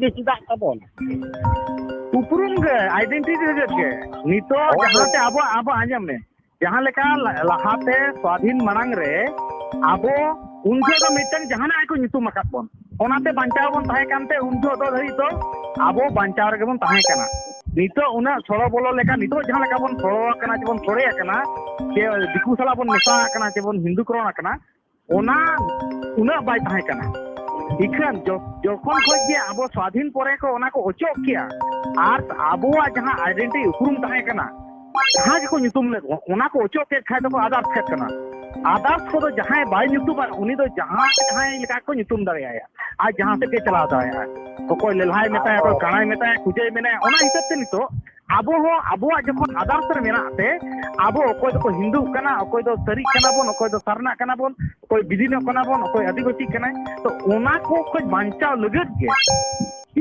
ᱵᱮᱥᱤ ᱫᱟᱜ ᱛᱟᱵᱚᱱ ᱩᱯᱨᱩᱢ ᱜᱮ ᱟᱭᱰᱮᱱᱴᱤᱴᱤ ᱨᱮ ᱜᱮ ᱱᱤᱛᱚᱜ ᱡᱟᱦᱟᱸᱛᱮ ᱟᱵᱚ ᱟᱵᱚ ᱟᱸᱡᱚᱢ ᱢᱮ ᱡᱟᱦᱟᱸ ᱞᱮᱠᱟ ᱞᱟᱦᱟᱛᱮ ᱥᱣᱟᱫᱷᱤᱱ ᱢᱟᱲᱟᱝ ᱨᱮ ᱟᱵᱚ ᱩᱱ ᱡᱚᱦᱚᱜ ᱫᱚ ᱢᱤᱫᱴᱟᱝ ᱡᱟᱦᱟᱱᱟᱜ ᱜᱮᱠᱚ ᱧᱩᱛᱩᱢ ᱟᱠᱟᱫ ᱵᱚᱱ ᱚᱱᱟᱛᱮ ᱵᱟᱧᱪᱟᱣ ᱵᱚᱱ ᱛᱟᱦᱮᱸ ᱠᱟᱱᱛᱮ ᱩᱱ ᱡᱚᱦᱚᱜ ᱫᱚ ᱫᱷᱟᱹᱨᱤᱡ ᱫᱚ ᱟᱵᱚ ᱵᱟᱧᱪᱟᱣ ᱨᱮᱜᱮ ᱵᱚᱱ ᱛᱟᱦᱮᱸ ᱠᱟᱱᱟ ᱱᱤᱛᱚᱜ ᱩᱱᱟᱹᱜ ᱥᱚᱲᱚ ᱵᱚᱞᱚ ᱞᱮᱠᱟ ᱱᱤᱛᱚᱜ ᱡᱟᱦᱟᱸ ᱞᱮᱠᱟ ᱵᱚᱱ ᱥᱚᱲᱚ ᱟᱠᱟᱱᱟ ᱥᱮᱵᱚᱱ ᱥᱚᱲᱮ ᱟᱠᱟᱱᱟ ᱥᱮ ᱫᱤᱠᱩ ᱥᱟᱞᱟᱜ ᱵᱚᱱ ᱢᱮᱥᱟ ᱟᱠᱟᱱᱟ ᱥᱮᱵᱚᱱ ᱦᱤᱱᱫᱩᱠᱚᱨᱚᱱ ᱟᱠᱟᱱᱟ ᱚᱱᱟ ᱩᱱᱟᱹᱜ ᱵᱟᱭ ᱛᱟᱦᱮᱸ ᱠᱟᱱᱟ ᱤᱠᱷᱟᱹᱱ ᱡᱚᱠᱷᱚᱱ ᱠᱷᱚᱱ ᱜᱮ ᱟᱵᱚ ᱥᱟᱫᱷᱤᱱ ᱯᱚᱨᱮ ᱠᱚ ᱚᱱᱟ ᱠᱚ ᱚᱪᱚᱜ ᱠᱮᱭᱟ ᱟᱨ ᱟᱵᱚᱣᱟᱜ ᱡᱟᱦᱟᱸ ᱟᱭᱰᱮᱱᱴᱤ ᱩᱯᱨᱩᱢ ᱛᱟᱦᱮᱸ ᱠᱟᱱᱟ ᱡᱟᱦᱟᱸ ᱜᱮᱠᱚ ᱧᱩᱛᱩᱢ ᱞᱮᱫ ᱚᱱᱟ ᱠᱚ ᱚᱪᱚᱜ ᱠᱮᱫ ᱠᱷᱟᱡ ᱫᱚᱠᱚ ᱟᱫᱟᱨ ᱯᱷᱮᱫ ᱠᱟᱱᱟ ᱟᱫᱟᱨᱥ ᱠᱚᱫᱚ ᱡᱟᱦᱟᱸᱭ ᱵᱟᱭ ᱧᱩᱛᱩᱢᱟ ᱩᱱᱤ ᱫᱚ ᱡᱟᱦᱟᱸ ᱡᱟᱦᱟᱸᱭ ᱞᱮᱠᱟ ᱠᱚ ᱧᱩᱛᱩᱢ ᱫᱟᱲᱮᱭᱟᱭᱟ ᱟᱨ ᱡᱟᱦᱟᱸ ᱥᱮᱫ ᱜᱮ ᱪᱟᱞᱟᱣ ᱫᱟᱲᱮᱭᱟᱜᱼᱟ ᱚᱠᱚᱭ ᱞᱮᱞᱦᱟᱭ ᱢᱮᱛᱟᱭᱟ ᱚᱠᱚᱭ ᱠᱟᱬᱟᱭ ᱢᱮᱛᱟᱭᱟ ᱠᱩᱡᱟᱹᱭ ᱢᱮᱱᱟᱭᱟ ᱚᱱᱟ ᱦᱤᱥᱟᱹᱵ ᱛᱮ ᱱᱤᱛᱚᱜ ᱟᱵᱚ ᱦᱚᱸ ᱟᱵᱚᱣᱟᱜ ᱡᱚᱠᱷᱚᱱ ᱟᱫᱟᱨᱥ ᱨᱮ ᱢᱮᱱᱟᱜ ᱛᱮ ᱟᱵᱚ ᱚᱠᱚᱭ ᱫᱚᱠᱚ ᱦᱤᱱᱫᱩᱜ ᱠᱟᱱᱟ ᱚᱠᱚᱭ ᱫᱚ ᱥᱟᱹᱨᱤᱜ ᱠᱟᱱᱟ ᱵᱚᱱ ᱚᱠᱚᱭ ᱫᱚ ᱥᱟᱨᱱᱟᱜ ᱠᱟᱱᱟ ᱵᱚᱱ ᱚᱠᱚᱭ ᱵᱤᱫᱤᱱᱚᱜ ᱠᱟᱱᱟ ᱵᱚᱱ ᱚᱠᱚᱭ ᱟᱹᱫᱤᱵᱟᱹᱥᱤ ᱠᱟᱱᱟᱭ ᱛᱚ ᱚᱱᱟ ᱠᱚ ᱠᱷᱚᱡ ᱵᱟᱧᱪᱟᱣ ᱞᱟᱹᱜᱤᱫ ᱜᱮ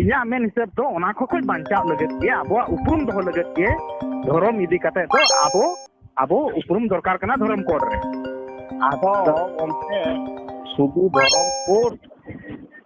ᱤᱧᱟᱹᱜ ᱢᱮᱱ ᱦᱤᱥᱟᱹᱵ ᱫᱚ ᱚᱱᱟ ᱠᱚ ᱠᱷᱚᱡ ᱵᱟᱧᱪᱟᱣ ᱞᱟᱹᱜᱤᱫ ᱜᱮ ᱟᱵᱚᱣᱟᱜ ᱩᱯᱨᱩᱢ ᱫᱚᱦᱚ ᱞᱟᱹᱜᱤᱫ ᱜᱮ ᱫᱷᱚᱨᱚᱢ ᱤᱫᱤ ᱠᱟᱛᱮ ᱫᱚ ᱟᱵᱚ ᱟᱵᱚ ᱩᱯᱨᱩᱢ ᱫᱚᱨᱠᱟᱨ ᱠᱟᱱᱟ ᱫᱷᱚᱨᱚᱢ ᱠᱳᱰ ᱨᱮ ᱟᱫᱚ ᱜᱚᱢᱠᱮ ᱥᱩᱫᱷᱩ ᱫᱷᱚᱨᱚᱢ ᱠᱳᱰ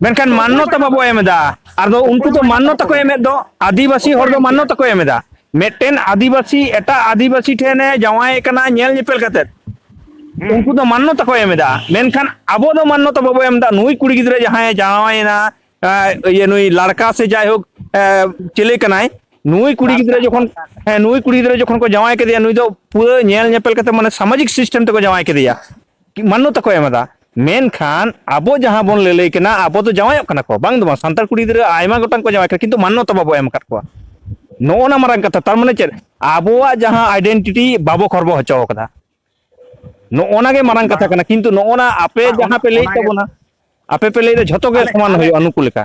ᱢᱮᱱᱠᱷᱟᱱ ᱢᱟᱱᱱᱚᱛᱟ ᱵᱟᱵᱚ ᱮᱢ ᱮᱫᱟ ᱟᱫᱚ ᱩᱱᱠᱩ ᱫᱚ ᱢᱟᱱᱱᱚᱛᱟ ᱠᱚ ᱮᱢᱮᱫ ᱫᱚ ᱟᱹᱫᱤᱵᱟᱹᱥᱤ ᱦᱚᱲ ᱫᱚ ᱢᱟᱱᱱᱚᱛᱟ ᱠᱚ ᱮᱢ ᱮᱫᱟ ᱢᱤᱫᱴᱮᱱ ᱟᱹᱫᱤᱵᱟᱹᱥᱤ ᱮᱴᱟᱜ ᱟᱹᱫᱤᱵᱟᱹᱥᱤ ᱴᱷᱮᱱᱮ ᱡᱟᱶᱟᱭ ᱠᱟᱱᱟ ᱧᱮᱞ ᱧᱮᱯᱮᱞ ᱠᱟᱛᱮᱫ ᱩᱱᱠᱩ ᱫᱚ ᱢᱟᱱᱱᱚᱛᱟ ᱠᱚ ᱮᱢ ᱮᱫᱟ ᱢᱮᱱᱠᱷᱟᱱ ᱟᱵᱚ ᱫᱚ ᱢᱟᱱᱱᱚᱛᱟ ᱵᱟᱵᱚ ᱮᱢ ᱮᱫᱟ ᱱᱩᱭ ᱠᱩᱲᱤ ᱜᱤᱫᱽᱨᱟᱹ ᱡᱟᱦᱟᱸᱭ ᱡᱟᱶᱟᱭᱮᱱᱟ ᱤᱭᱟᱹ ᱱᱩᱭ ᱞᱟᱲᱠᱟ ᱥᱮ ᱡᱟᱭᱦᱳᱠ ᱪᱮᱞᱮ ᱠᱟᱱᱟᱭ ᱱᱩᱭ ᱠᱩᱲᱤ ᱜᱤᱫᱽᱨᱟᱹ ᱡᱚᱠᱷᱚᱱ ᱦᱮᱸ ᱱᱩᱭ ᱠᱩᱲᱤ ᱜᱤᱫᱽᱨᱟᱹ ᱡᱚᱠᱷᱚᱱ ᱠᱚ ᱡᱟᱶᱟᱭ ᱠᱮᱫᱮᱭᱟ ᱱᱩᱭ ᱫᱚ ᱯᱩᱨᱟᱹ ᱧᱮᱞ ᱧᱮᱯᱮᱞ ᱠᱟᱛᱮ ᱢᱟᱱᱮ ᱥᱟᱢᱟᱡᱤᱠ ᱥᱤᱥᱴᱮᱢ ᱛᱮᱠᱚ ᱡᱟᱶᱟᱭ ᱠᱮᱫᱮᱭᱟ ᱢᱟᱱᱱᱚᱛᱟ ᱠᱚ ᱮᱢ ᱮᱫᱟ ᱢᱮᱱᱠᱷᱟᱱ ᱟᱵᱚ ᱡᱟᱦᱟᱸ ᱵᱚᱱ ᱞᱟᱹᱞᱟᱹᱭ ᱠᱟᱱᱟ ᱟᱵᱚ ᱫᱚ ᱡᱟᱶᱟᱭᱚᱜ ᱠᱟᱱᱟ ᱠᱚ ᱵᱟᱝ ᱫᱚ ᱵᱟᱝ ᱥᱟᱱᱛᱟᱲ ᱠᱩᱲᱤ ᱜᱤᱫᱽᱨᱟᱹ ᱟᱭᱢᱟ ᱜᱚᱴᱟᱝ ᱠᱚ ᱡᱟᱶᱟᱭ ᱠᱟᱱᱟ ᱠᱤᱱᱛᱩ ᱢᱟᱱᱱᱚᱛᱟ ᱵᱟᱵᱚ ᱮᱢ ᱟᱠᱟᱫ ᱠᱚᱣᱟ ᱱᱚᱜᱼᱚ ᱱᱟ ᱢᱟᱨᱟᱝ ᱠᱟᱛᱷᱟ ᱛᱟᱨ ᱢᱟᱱᱮ ᱪᱮᱫ ᱟᱵᱚᱣᱟᱜ ᱡᱟᱦᱟᱸ ᱟᱭᱰᱮᱱᱴᱤᱴᱤ ᱵᱟᱵᱚ ᱠᱷᱚᱨᱵᱚ ᱦᱚᱪᱚ ᱟᱠᱟᱫᱟ ᱱᱚᱜᱼᱚ ᱱᱟ ᱜᱮ ᱢᱟᱨᱟᱝ ᱠᱟᱛᱷᱟ ᱠᱟᱱᱟ ᱠᱤᱱᱛᱩ ᱱᱚᱜᱼᱚ ᱱᱟ ᱟᱯᱮ ᱡᱟᱦᱟᱸ ᱯᱮ ᱞᱟᱹᱭᱮᱫ ᱛᱟᱵᱚᱱᱟ ᱟᱯᱮ ᱯᱮ ᱞᱟᱹᱭᱮᱫᱟ ᱡᱷᱚᱛᱚ ᱜᱮ ᱥᱚᱢᱟᱱ ᱦᱩᱭᱩᱜᱼᱟ ᱱᱩᱠᱩ ᱞᱮᱠᱟ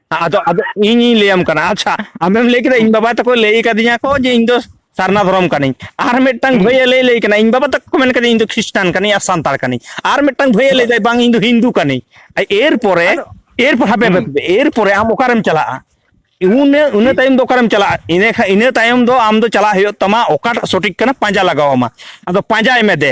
ᱟᱫᱚ ᱟᱫᱚ ᱤᱧᱤᱧ ᱞᱟᱹᱭᱟᱢ ᱠᱟᱱᱟ ᱟᱪᱪᱷᱟ ᱟᱢᱮᱢ ᱞᱟᱹᱭ ᱠᱮᱫᱟ ᱤᱧ ᱵᱟᱵᱟ ᱛᱟᱠᱚ ᱞᱟᱹᱭ ᱟᱠᱟᱫᱤᱧᱟ ᱠᱚ ᱡᱮ ᱤᱧ ᱫᱚ ᱥᱟᱨᱱᱟ ᱫᱷᱚᱨᱚᱢ ᱠᱟᱹᱱᱟᱹᱧ ᱟᱨ ᱢᱤᱫᱴᱟᱝ ᱦᱩᱸ ᱵᱷᱟᱹᱭ ᱞᱟᱹᱭ ᱞᱟᱹᱭ ᱠᱟᱱᱟ ᱤᱧ ᱵᱟᱵᱟ ᱛᱟᱠᱚ ᱠᱚ ᱢᱮᱱ ᱠᱟᱫᱤᱧ ᱤᱧ ᱫᱚ ᱠᱷᱨᱤᱥᱴᱟᱱ ᱠᱟᱹᱱᱟᱹᱧ ᱟᱨ ᱥᱟᱱᱛᱟᱲ ᱠᱟᱹᱱᱟᱹᱧ ᱟᱨ ᱢᱤᱫ ᱢᱤᱫᱴᱟᱝ ᱵᱷᱟᱹᱭᱭᱟ ᱟᱫᱚ ᱞᱟᱹᱭᱫᱟᱭ ᱵᱟᱝ ᱤᱧ ᱫᱚ ᱦᱤᱱᱫᱩ ᱠᱟᱹᱱᱟᱹᱧ ᱮᱨ ᱯᱚᱨᱮ ᱟᱫᱚ ᱮᱨ ᱯᱚᱨᱮ ᱦᱟᱯᱮ ᱦᱩᱸ ᱦᱟᱯᱮ ᱮᱨ ᱯᱚᱨᱮ ᱟᱢ ᱚᱠᱟᱨᱮᱢ ᱪᱟᱞᱟᱜᱼᱟ ᱩᱱᱟᱹ ᱤᱱᱟᱹ ᱛᱟᱭᱚᱢ ᱫᱚ ᱚᱠᱟᱨᱮᱢ ᱪᱟᱞᱟᱜᱼᱟ ᱤᱱᱟᱹ ᱠᱷᱟᱱ ᱤᱱᱟᱹ ᱛᱟᱭᱚᱢ ᱫᱚ ᱟᱢ ᱫᱚ ᱪᱟᱞᱟᱜ ᱦᱩᱭᱩᱜ ᱛᱟᱢᱟ ᱚᱠᱟᱴᱟᱜ ᱥᱚᱴᱷᱤᱠ ᱠᱟᱱᱟ ᱯᱟᱸᱡᱟ ᱞᱟᱜᱟᱣ ᱟᱢᱟ ᱟᱫᱚ ᱯᱟᱸᱡᱟᱭ ᱢᱮ ᱫᱮ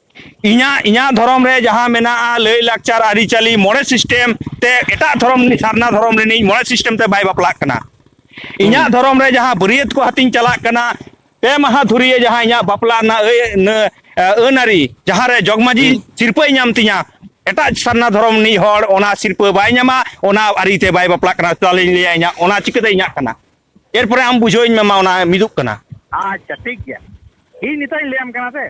ᱤᱧᱟᱹᱜ ᱤᱧᱟᱹᱜ ᱫᱷᱚᱨᱚᱢ ᱨᱮ ᱡᱟᱦᱟᱸ ᱢᱮᱱᱟᱜᱼᱟ ᱞᱟᱹᱭᱼᱞᱟᱠᱪᱟᱨ ᱟᱹᱨᱤᱪᱟᱹᱞᱤ ᱢᱚᱬᱮ ᱥᱤᱥᱴᱮᱢ ᱛᱮ ᱮᱴᱟᱜ ᱫᱷᱚᱨᱚᱢ ᱥᱟᱨᱱᱟ ᱫᱷᱚᱨᱚᱢ ᱨᱤᱱᱤᱡ ᱢᱚᱬᱮ ᱥᱤᱥᱴᱮᱢ ᱛᱮ ᱵᱟᱭ ᱵᱟᱯᱞᱟᱜ ᱠᱟᱱᱟ ᱤᱧᱟᱹᱜ ᱦᱩᱸ ᱫᱷᱚᱨᱚᱢ ᱨᱮ ᱡᱟᱦᱟᱸ ᱵᱟᱹᱨᱭᱟᱹᱛ ᱠᱚ ᱟᱛᱤᱧ ᱪᱟᱞᱟᱜ ᱠᱟᱱᱟ ᱯᱮ ᱢᱟᱦᱟ ᱫᱷᱩᱨᱭᱟᱹ ᱡᱟᱦᱟᱸ ᱤᱧᱟᱹᱜ ᱵᱟᱯᱞᱟ ᱨᱮᱱᱟᱜ ᱟᱹᱱ ᱟᱹᱨᱤ ᱡᱟᱦᱟᱸ ᱨᱮ ᱡᱚᱜᱽ ᱢᱟᱺᱡᱷᱤ ᱦᱩᱸ ᱥᱤᱨᱯᱟᱹᱭ ᱧᱟᱢ ᱛᱤᱧᱟᱹ ᱮᱴᱟᱜ ᱥᱟᱨᱱᱟ ᱫᱷᱚᱨᱚᱢ ᱨᱤᱱᱤᱡ ᱦᱚᱲ ᱚᱱᱟ ᱥᱤᱨᱯᱟᱹ ᱵᱟᱭ ᱧᱟᱢᱟ ᱚᱱᱟ ᱟᱹᱨᱤᱛᱮ ᱵᱟᱭ ᱵᱟᱯᱞᱟᱜ ᱠᱟᱱᱟ ᱛᱟᱦᱚᱞᱮᱧ ᱞᱟᱹᱭᱟ ᱤᱧᱟᱹᱜ ᱚᱱᱟ ᱪᱤᱠᱟᱹᱛᱮ ᱤᱧᱟᱹᱜ ᱠᱟᱱᱟ ᱮᱨᱯᱚᱨᱮ ᱟᱢ ᱵᱩᱡᱷᱟᱹᱣ ᱤᱧ ᱢᱮ ᱢᱟ ᱚᱱᱟ ᱢᱤᱫᱩᱜ ᱠᱟᱱᱟ ᱟᱪᱪᱷᱟ ᱴᱷᱤᱠ ᱜᱮᱭᱟ ᱤᱧ ᱱᱤᱛᱚᱜ ᱤᱧ ᱞᱟᱹᱭᱟᱢ ᱠᱟᱱᱟ ᱥᱮ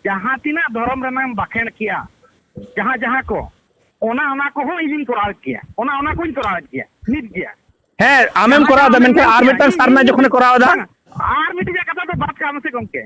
ᱡᱟᱦᱟᱸ ᱛᱤᱱᱟᱹᱜ ᱫᱷᱚᱨᱚᱢ ᱨᱮᱱᱟᱜ ᱮᱢ ᱵᱟᱠᱷᱮᱬ ᱠᱮᱜᱼᱟ ᱡᱟᱦᱟᱸ ᱡᱟᱦᱟᱸ ᱠᱚ ᱚᱱᱟ ᱚᱱᱟ ᱠᱚᱦᱚᱸ ᱤᱧᱤᱧ ᱠᱚᱨᱟᱣᱮᱫ ᱜᱮᱭᱟ ᱚᱱᱟ ᱚᱱᱟ ᱠᱚᱧ ᱠᱚᱨᱟᱣᱮᱫ ᱜᱮᱭᱟ ᱱᱤᱛ ᱜᱮᱭᱟ ᱦᱮᱸ ᱟᱢᱮᱢ ᱡᱟᱦᱟᱸ ᱠᱚᱨᱟᱣ ᱡᱟᱦᱟᱸ ᱮᱫᱟ ᱟᱢᱮᱢ ᱢᱮᱱᱠᱷᱟᱱ ᱢᱮᱱ ᱟᱨ ᱠᱮᱜᱼᱟ ᱢᱤᱫᱴᱟᱝ ᱤᱧ ᱥᱟᱨᱱᱟ ᱤᱧ ᱡᱚᱠᱷᱚᱱᱮ ᱠᱚᱨᱟᱣ ᱮᱫᱟ ᱵᱟᱝᱟ ᱟᱨ ᱢᱤᱫᱴᱤᱡᱟᱜ ᱠᱟᱛᱷᱟ ᱫᱚ ᱵᱟᱫ ᱠᱟᱜ ᱢᱮᱥᱮ ᱜᱚᱢᱠᱮ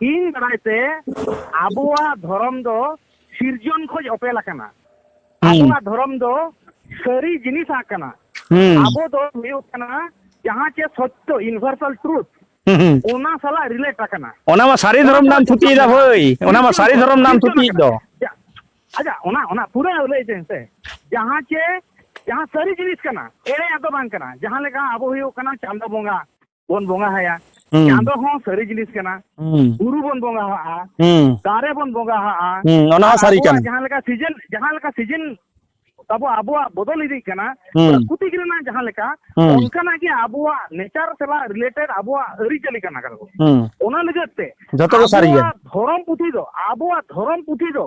ᱤᱧ ᱵᱟᱲᱟᱭ ᱛᱮ ᱟᱵᱚᱣᱟᱜ ᱫᱷᱚᱨᱚᱢ ᱫᱚ ᱥᱤᱨᱡᱚᱱ ᱠᱷᱚᱡ ᱚᱯᱮᱞ ᱟᱠᱟᱱᱟ ᱟᱵᱚᱣᱟᱜ ᱫᱷᱚᱨᱚᱢ ᱫᱚ ᱥᱟᱹᱨᱤ ᱡᱤᱱᱤᱥ ᱠᱟᱱᱟ ᱟᱵᱚ ᱫᱚ ᱦᱩᱭᱩᱜ ᱠᱟᱱᱟ ᱡᱟᱦᱟᱸ ᱪᱮ ᱥᱚᱛᱭᱚ ᱤᱱᱵᱷᱟᱨᱥᱟᱞ ᱴᱨᱩᱛ ᱚᱱᱟ ᱥᱟᱞᱟᱜ ᱨᱤᱞᱮᱴ ᱟᱠᱟᱱᱟ ᱚᱱᱟ ᱢᱟ ᱥᱟᱹᱨᱤ ᱫᱷᱚᱨᱚᱢ ᱱᱟᱢ ᱛᱷᱩᱛᱤ ᱫᱟ ᱵᱷᱟᱹᱭ ᱚᱱᱟ ᱢᱟ ᱥᱟᱹᱨᱤ ᱫᱷᱚᱨᱚᱢ ᱱᱟᱢ ᱛᱷᱩᱛᱤ ᱫᱚ ᱟᱪᱪᱷᱟ ᱚᱱᱟ ᱚᱱᱟ ᱯᱩᱨᱟᱹ ᱞᱟᱹᱭ ᱫᱮᱱ ᱥᱮ ᱡᱟᱦᱟᱸ ᱪᱮ ᱡᱟᱦᱟᱸ ᱥᱟᱹᱨᱤ ᱡᱤᱱᱤᱥ ᱠᱟᱱᱟ ᱮᱲᱮᱭᱟᱜ ᱫᱚ ᱵᱟᱝ ᱠᱟᱱᱟ ᱡᱟᱦᱟᱸ ᱞᱮᱠᱟ ᱟᱵᱚ ᱦᱩᱭᱩᱜ ᱠᱟᱱᱟ ᱪᱟᱸᱫᱚ ᱵᱚᱸᱜᱟ ᱵᱚᱱ ᱵᱚᱸᱜᱟ ᱦᱟᱭᱟ ᱪᱟᱸᱫᱚ ᱦᱚᱸ ᱥᱟᱹᱨᱤ ᱡᱤᱱᱤᱥ ᱠᱟᱱᱟ ᱵᱩᱨᱩ ᱵᱚᱱ ᱵᱚᱸᱜᱟ ᱦᱟᱜᱼᱟ ᱫᱟᱨᱮ ᱵᱚᱱ ᱵᱚᱸᱜᱟ ᱦᱟᱜᱼᱟ ᱚᱱᱟ ᱦᱚᱸ ᱥᱟᱹᱨᱤ ᱠᱟᱱᱟ ᱡᱟᱦᱟᱸ ᱞᱮᱠᱟ ᱥᱤᱡᱤᱱ ᱡᱟᱦᱟᱸ ᱞᱮᱠᱟ ᱥᱤᱡᱤᱱ ᱟᱵᱚ ᱟᱵᱚᱣᱟᱜ ᱵᱚᱫᱚᱞ ᱤᱫᱤᱜ ᱠᱟᱱᱟ ᱯᱨᱟᱠᱨᱤᱛᱤᱠ ᱨᱮᱱᱟᱜ ᱡᱟᱦᱟᱸ ᱞᱮᱠᱟ ᱚᱱᱠᱟᱱᱟᱜ ᱜᱮ ᱟᱵᱚᱣᱟᱜ ᱱᱮᱪᱟᱨ ᱥᱟᱞᱟᱜ ᱨᱤᱞᱮᱴᱮᱰ ᱟᱵᱚᱣᱟᱜ ᱟᱹᱨᱤᱪᱟᱹᱞᱤ ᱠᱟᱱᱟ ᱚᱱᱟ ᱞᱟᱹᱜᱤᱫ ᱛᱮ ᱡᱚᱛᱚ ᱜᱮ ᱥᱟᱹᱨᱤ ᱜᱮᱭᱟ ᱫᱷᱚᱨᱚᱢ ᱯᱩᱛᱷᱤ ᱫᱚ ᱟᱵᱚᱣᱟᱜ ᱫᱷᱚᱨᱚᱢ ᱯᱩᱛᱷᱤ ᱫᱚ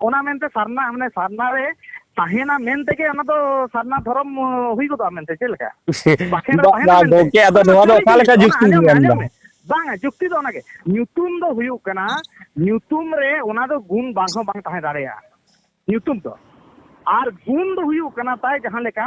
ᱚᱱᱟ ᱢᱮᱱᱛᱮ ᱥᱟᱨᱱᱟ ᱢᱟᱱᱮ ᱥᱟᱨᱱᱟ ᱨᱮ ᱛᱟᱦᱮᱱᱟ ᱢᱮᱱ ᱛᱮᱜᱮ ᱚᱱᱟ ᱫᱚ ᱥᱟᱨᱱᱟ ᱫᱷᱚᱨᱚᱢ ᱦᱩᱭ ᱜᱚᱫᱚᱜᱼᱟ ᱢᱮᱱᱛᱮ ᱪᱮᱫ ᱞᱮᱠᱟ ᱵᱟᱠᱷᱮᱲ ᱨᱮ ᱛᱟᱦᱮᱱᱟ ᱢᱮᱱᱛᱮ ᱜᱚᱝᱠᱮ ᱟᱫᱚ ᱱᱚᱣᱟ ᱫᱚ ᱚᱠᱟ ᱞᱮᱠᱟ ᱡᱩᱠᱛᱤ ᱟᱸᱡᱚᱢ ᱢᱮ ᱟᱸᱡᱚᱢ ᱢᱮ ᱵᱟᱝᱟ ᱡᱩᱠᱛᱤ ᱫᱚ ᱚᱱᱟᱜᱮ ᱧᱩᱛᱩᱢ ᱫᱚ ᱦᱩᱭᱩᱜ ᱠᱟᱱᱟ ᱧᱩᱛᱩᱢ ᱨᱮ ᱚᱱᱟ ᱫᱚ ᱜᱩᱱ ᱵᱟᱝ ᱦᱚᱸ ᱵᱟᱝ ᱛᱟᱦᱮᱸ ᱫᱟᱲᱮᱭᱟᱜᱼᱟ ᱧᱩᱛᱩᱢ ᱫᱚ ᱟᱨ ᱜᱩᱱ ᱫᱚ ᱦᱩᱭᱩᱜ ᱠᱟᱱᱟ ᱛᱟᱭ ᱡᱟᱦᱟᱸ ᱞᱮᱠᱟ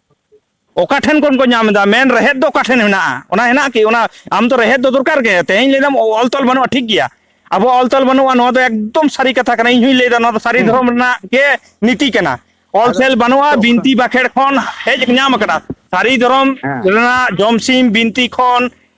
ᱚᱠᱟ ᱴᱷᱮᱱ ᱠᱷᱚᱱ ᱠᱚ ᱧᱟᱢ ᱮᱫᱟ ᱢᱮᱱ ᱨᱮᱦᱮᱫ ᱫᱚ ᱚᱠᱟ ᱴᱷᱮᱱ ᱢᱮᱱᱟᱜᱼᱟ ᱚᱱᱟ ᱦᱮᱱᱟᱜ ᱠᱤ ᱚᱱᱟ ᱟᱢ ᱫᱚ ᱨᱮᱦᱮᱫ ᱫᱚ ᱫᱚᱨᱠᱟᱨ ᱜᱮ ᱛᱮᱦᱮᱧ ᱞᱟᱹᱭᱫᱟᱢ ᱚᱞ ᱛᱚᱞ ᱵᱟᱹᱱᱩᱜᱼᱟ ᱴᱷᱤᱠ ᱜᱮᱭᱟ ᱟᱵᱚ ᱚᱞ ᱛᱚᱞ ᱵᱟᱹᱱᱩᱜᱼᱟ ᱱᱚᱣᱟ ᱫᱚ ᱮᱠᱫᱚᱢ ᱥᱟᱹᱨᱤ ᱠᱟᱛᱷᱟ ᱠᱟᱱᱟ ᱤᱧ ᱦᱚᱸᱧ ᱞᱟᱹᱭᱫᱟ ᱱᱚᱣᱟ ᱫᱚ ᱥᱟᱹᱨᱤ ᱫᱷᱚᱨᱚᱢ ᱨᱮᱱᱟᱜ ᱜᱮ ᱱᱤᱛᱤ ᱠᱟᱱᱟ ᱚᱞ ᱛᱚᱞ ᱵᱟᱹᱱᱩᱜᱼᱟ ᱵᱤᱱᱛᱤ ᱵᱟᱠᱷᱮᱲ ᱠᱷᱚᱱ ᱦᱮᱡ ᱧᱟᱢ ᱟᱠᱟᱱᱟ ᱥᱟᱹᱨᱤ ᱫᱷᱚᱨᱚᱢ ᱨᱮᱱᱟᱜ ᱡᱚᱢᱥᱤᱢ ᱵᱤᱱᱛᱤ ᱠᱷᱚᱱ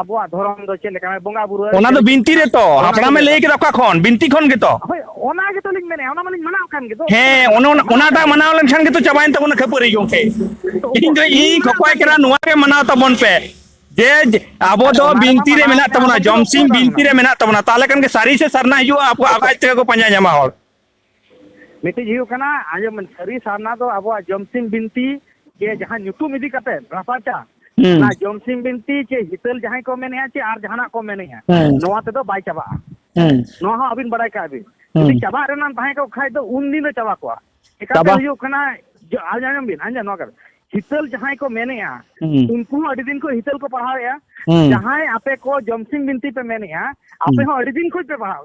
ᱟᱵᱚᱣᱟᱜ ᱫᱷᱚᱨᱚᱢ ᱫᱚ ᱪᱮᱫ ᱞᱮᱠᱟ ᱵᱚᱸᱜᱟ ᱵᱩᱨᱩ ᱚᱱᱟ ᱫᱚ ᱵᱤᱱᱛᱤ ᱨᱮ ᱛᱚ ᱦᱟᱯᱲᱟᱢᱮ ᱞᱟᱹᱭ ᱠᱮᱫᱟ ᱚᱠᱟ ᱠᱷᱚᱱ ᱵᱤᱱᱛᱤ ᱠᱷᱚᱱ ᱜᱮᱛᱚ ᱦᱳᱭ ᱚᱱᱟ ᱜᱮᱛᱚ ᱞᱤᱧ ᱢᱮᱱᱮᱫ ᱚᱱᱟ ᱢᱟᱞᱤᱧ ᱢᱟᱱᱟᱣ ᱠᱟᱱ ᱜᱮᱫᱚ ᱦᱮᱸ ᱚᱱᱟ ᱚᱱᱟᱴᱟᱜ ᱢᱟᱱᱟᱣ ᱞᱮᱱᱠᱷᱟᱱ ᱜᱮᱛᱚ ᱪᱟᱵᱟᱭᱮᱱ ᱛᱟᱵᱚᱱᱟ ᱠᱷᱟᱹᱯᱟᱹᱨᱤ ᱜᱚᱝᱠᱮ ᱤᱧ ᱫᱚ ᱤᱧ ᱠᱷᱚᱠᱚᱭ ᱠᱟᱱᱟ ᱱᱚᱣᱟ ᱜᱮ ᱢᱟᱱᱟᱣ ᱛᱟᱵᱚᱱ ᱯᱮ ᱡᱮ ᱟᱵᱚ ᱫᱚ ᱵᱤᱱᱛᱤ ᱨᱮ ᱢᱮᱱᱟᱜ ᱛᱟᱵᱚᱱᱟ ᱡᱚᱢᱥᱤᱢ ᱵᱤᱱᱛᱤ ᱨᱮ ᱢᱮᱱᱟᱜ ᱛᱟᱵᱚᱱᱟ ᱛᱟᱦᱚᱞᱮ ᱠᱷᱟᱱ ᱜᱮ ᱥᱟᱹᱨᱤ ᱥᱮ ᱥᱟᱨᱱᱟ ᱦᱤᱡᱩᱜᱼᱟ ᱟᱵᱚ ᱟᱡ ᱛᱮᱜᱮ ᱠᱚ ᱯᱟᱸᱡᱟ ᱧᱟᱢᱟ ᱦᱚᱲ ᱢᱤᱫᱴᱤᱡ ᱦᱩᱭᱩᱜ ᱠᱟᱱᱟ ᱟᱸᱡᱚᱢ ᱥᱟᱹᱨᱤ ᱥᱟᱨᱱᱟ ᱫᱚ ᱟᱵᱚᱣᱟᱜ ᱡᱚᱢᱥᱤᱢ ᱵᱤᱱᱛᱤ ᱪᱮ ᱡᱟᱦᱟᱸ ᱧᱩᱛᱩᱢ ᱤᱫᱤ ᱠᱟᱛᱮ ᱨᱟᱯᱟᱪᱟ ᱚᱱᱟ ᱡᱚᱢᱥᱤᱢ ᱵᱤᱱᱛᱤ ᱪᱮ ᱦᱤᱛᱟᱹᱞ ᱡᱟᱦᱟᱸᱭ ᱠᱚ ᱢᱮᱱᱮᱜᱼᱟ ᱪᱮ ᱟᱨ ᱡᱟᱦᱟᱱᱟᱜ ᱠᱚ ᱢᱮᱱᱮᱜᱼᱟ ᱱᱚᱣᱟ ᱛᱮᱫᱚ ᱵᱟᱭ ᱪᱟᱵᱟᱜᱼᱟ ᱱᱚᱣᱟ ᱦᱚᱸ ᱟᱹᱵᱤᱱ ᱵᱟᱲᱟᱭ ᱠᱟᱜ ᱵᱤᱱ ᱡᱩᱫᱤ ᱪᱟᱵᱟᱜ ᱨᱮᱱᱟᱜ ᱛᱟᱦᱮᱸ ᱠᱚᱜ ᱠᱷᱟᱡ ᱫᱚ ᱩᱱ ᱫᱤᱱ ᱨᱮ ᱪᱟᱵᱟ ᱠᱚᱜᱼᱟ ᱪᱮᱠᱟᱛᱮ ᱦᱩᱭᱩᱜ ᱠᱟᱱᱟ ᱟᱸᱡᱚᱢ ᱵᱤᱱ ᱟᱸᱡᱚᱢ ᱱᱚᱣᱟ ᱠᱟᱛᱷᱟ ᱦᱤᱛᱟᱹᱞ ᱡᱟᱦᱟᱸᱭ ᱠᱚ ᱢᱮᱱᱮᱜᱼᱟ ᱩᱱᱠᱩ ᱦᱚᱸ ᱟᱹᱰᱤ ᱫᱤᱱ ᱠᱷᱚᱱ ᱦᱤᱛᱟᱹᱞ ᱠᱚ ᱯᱟᱲᱦᱟᱣᱮᱜᱼᱟ ᱡᱟᱦᱟᱸᱭ ᱟᱯᱮ ᱠᱚ ᱡᱚᱢᱥᱤᱢ ᱵᱤᱱᱛᱤ ᱯᱮ ᱢᱮᱱᱮᱜᱼᱟ ᱟᱯᱮ ᱦᱚᱸ ᱟᱹᱰᱤ ᱫᱤᱱ ᱠᱷᱚᱱ ᱯᱮ ᱯᱟᱲᱦᱟᱣ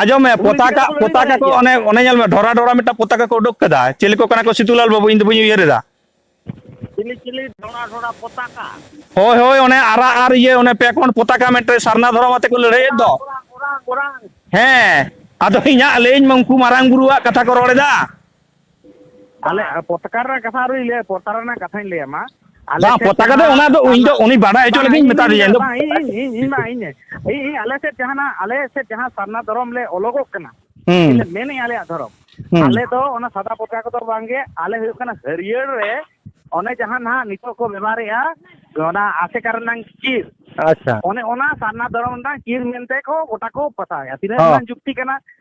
ᱟᱸᱡᱚᱢ ᱢᱮ ᱩᱱᱤ ᱤᱫᱤ ᱯᱚᱛᱟᱠᱟ ᱠᱟᱛᱮ ᱠᱚ ᱞᱟᱹᱲᱦᱟᱹᱭ ᱯᱚᱛᱟᱠᱟ ᱵᱟᱲᱟᱭᱮᱫ ᱠᱚ ᱜᱮᱭᱟ ᱚᱱᱮ ᱚᱱᱮ ᱧᱮᱞ ᱢᱮ ᱰᱷᱚᱨᱟ ᱰᱷᱚᱨᱟ ᱢᱤᱫᱴᱟᱝ ᱯᱚᱛᱟᱠᱟ ᱠᱚ ᱩᱰᱩᱠ ᱠᱟᱫᱟ ᱪᱮᱞᱮ ᱠᱚ ᱠᱟᱱᱟ ᱠᱚ ᱥᱤᱫᱩᱞᱟᱞ ᱵᱟᱹᱵᱩ ᱤᱧ ᱫᱚ ᱵᱟᱹᱧ ᱩᱭᱦᱟᱹᱨ ᱮᱫᱟ ᱪᱤᱞᱤ ᱪᱤᱞᱤ ᱰᱷᱚᱲᱟ ᱰᱷᱚᱲᱟ ᱯᱚᱛᱟᱠᱟ ᱦᱳᱭ ᱦᱳᱭ ᱚᱱᱮ ᱟᱨᱟᱜ ᱟᱨ ᱤᱭᱟᱹ ᱚᱱᱮ ᱯᱮ ᱠᱚᱬ ᱯᱚᱛᱟᱠᱟ ᱢᱤᱫᱴᱮᱱ ᱥᱟᱨᱱᱟ ᱫᱷᱚᱨᱚᱢ ᱟᱛᱮ ᱠᱚ ᱞᱟᱹᱲᱦᱟᱹᱭᱮᱫ ᱫᱚ ᱚᱨᱟᱝ ᱚᱨᱟᱝ ᱚᱨᱟᱝ ᱚᱨᱟᱝ ᱦᱮᱸ ᱟᱫᱚ ᱤᱧᱟᱹᱜ ᱞᱟᱹᱭᱟᱹᱧ ᱢᱮ ᱩᱱᱠᱩ ᱢᱟᱨᱟᱝ ᱵᱩᱨᱩᱣᱟᱜ ᱠᱟᱛᱷᱟ ᱠᱚ ᱨᱚᱲ ᱮᱫᱟ ᱟᱞᱮ ᱯᱚᱛᱠᱟᱨ ᱨᱮᱱᱟᱜ ᱠᱟᱛᱷᱟ ᱟᱹᱣᱨᱤ ᱞᱟᱹᱭᱟ ᱯᱚᱛᱠᱟᱨ ᱨᱮᱱᱟᱜ ᱠᱟᱛᱷᱟᱧ ᱞᱟᱹᱭᱟ ᱢᱟ ᱵᱟᱝ ᱯᱚᱛᱠᱟᱨ ᱫᱚ ᱚᱱᱟ ᱫᱚ ᱤᱧ ᱫᱚ ᱩᱱᱤ ᱵᱟᱰᱟᱭ ᱦᱚᱪᱚ ᱞᱟᱹᱜᱤᱫ ᱢᱮᱛᱟ ᱫᱤᱧᱟ ᱤᱧ ᱫᱚ ᱤᱧ ᱤᱧ ᱤᱧ ᱢᱟ ᱤᱧ ᱤᱧ ᱟᱞᱮ ᱥᱮᱫ ᱡᱟᱦᱟᱱᱟᱜ ᱟᱞᱮ ᱥᱮᱫ ᱡᱟᱦᱟᱸ ᱥᱟᱨᱱᱟ ᱫᱷᱚᱨᱚᱢ ᱞᱮ ᱚᱞᱚᱜᱚᱜ ᱠᱟᱱᱟ ᱢᱮᱱᱮᱫ ᱟᱞᱮᱭᱟᱜ ᱫᱷᱚᱨᱚᱢ ᱟᱞᱮ ᱫᱚ ᱚᱱᱟ ᱥᱟᱫᱟ ᱯᱚᱛᱠᱟ ᱠᱚᱫᱚ ᱵᱟᱝᱜᱮ ᱟᱞᱮ ᱦᱩᱭᱩᱜ ᱠᱟᱱᱟ ᱦᱟᱹᱨᱭᱟᱹᱲ ᱨᱮ ᱚᱱᱮ ᱡᱟᱦᱟᱸ ᱱᱟᱦᱟᱜ ᱱᱤᱛᱚᱜ ᱠᱚ ᱵᱮᱵᱷᱟᱨᱮᱜᱼᱟ ᱚᱱᱟ ᱟᱥᱮᱠᱟ ᱨᱮᱱᱟᱝ ᱪᱤᱨ ᱟᱪᱪᱷᱟ ᱚᱱᱮ ᱚᱱᱟ ᱥᱟᱨᱱᱟ ᱫᱷᱚᱨᱚᱢ ᱨᱮᱱᱟᱜ ᱪᱤᱨ ᱢᱮᱱᱛᱮ ᱠᱚ ᱜᱚᱴᱟ ᱠᱚ ᱯᱟᱛᱟᱣᱮᱜᱼᱟ ᱛᱤᱱᱟᱹᱜ ᱜᱟᱱ ᱡᱩᱠᱛᱤ ᱠᱟᱱᱟ